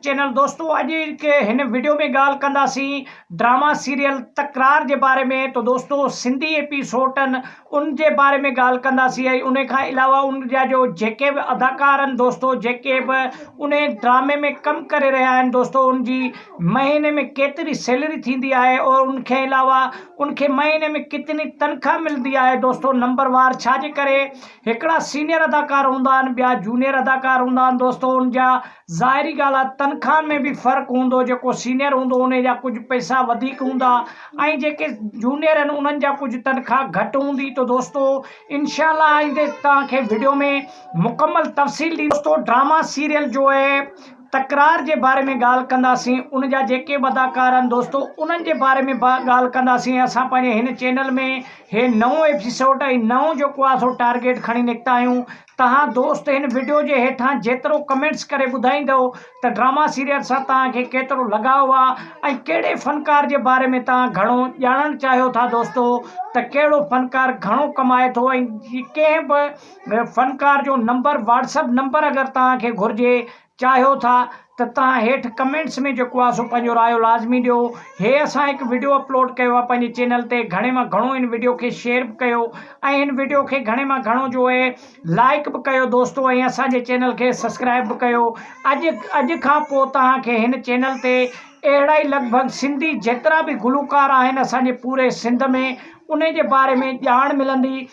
Channel دوستو اڄ کي هن ويڊيو ۾ ڳالهه ڪنداسين ڊراما سيريل تڪرار جي باري ۾ تو دوستو سنڌي ايپيسوٽن ان جي باري ۾ ڳالهه ڪنداسين ۽ ان کان علاوه ان جا جو جيڪي به اداڪارن دوستو جيڪي به ان ڊرامي ۾ ڪم ڪري رهيا آهن دوستو ان جي مهيني ۾ ڪيتري سيلري ٿيندي آهي اور ان کي علاوه ان کي مهيني ۾ ڪتني تنخواهه ملندي آهي دوستو نمبر وار ڇا جي ڪري هڪڙا سينيئر اداڪار هوندا آهن ٻيا جونيئر اداڪار هوندا آهن دوستو ان جا ظاهري ڳالهه آهي تنخواهن ۾ به فرق هوندو جيڪو سينئر هوندو انهي جا ڪجهه پئسا وڌيڪ هوندا ۽ جيڪي جونئر آهن انهن جا ڪجهه تنخواهه گهٽ هوندي ته دوستو انشاء الله آئيندي توهان کي وڊيو ۾ مڪمل تفصيل ڏيندو دوستو ڊراما سيريل جو اهي تڪرار جي باري ۾ ڳالهه ڪنداسين ان جا جيڪي به اداڪار آهن دوستو انهن جي باري ۾ ڳالهه ڪنداسين اسان پنهنجي هن چينل ۾ هي نئون ايپيسوڊ ۽ نئون جيڪو آهي سو ٽارگيٽ کڻي نڪتا آهيون تهان دوست هن وڊيو جي هيٺان جيترو ڪمينٽس ڪري ٻڌائيندؤ ته ڊراما سيريل سان تهان کي ڪيترو لڳاء آ ۽ ڪهڙي فنڪار جي باري ۾ تهان گهڻو ڄاڻڻ چاهيو ٿا دوستو ته ڪهڙو فنڪار گهڻو ڪمائي ٿو ۽ ڪنهن به فنڪار جو نمبر واٽسپ نمبر اگر تهان کي گهرجي چاهيو ٿا ته تهان هيٺ ڪمينٽس ۾ جيڪو آهي سو پنهنجو رايو لازمي ڏيو هي اسان هڪ وڊيو اپلوڊ ڪيو آهي پنهنجي چينل تي گهڻي مان گهڻو هن وڊيو کي شيئر به ڪيو ۽ هن وڊيو کي گهڻي مان گهڻو جو اهي لائڪ به ڪيو دوستو ۽ اسان جي چينل کي سسڪرائب به ڪيو اڄ اڄ کان پو تهان کي هن چينل تي اهڙا ئي لڳ ڀڳ سنڌي جيترا به گلوڪار آهن اسان جي پوري سنڌ ۾ انهي جي باري ۾ ڄاڻ ملندي.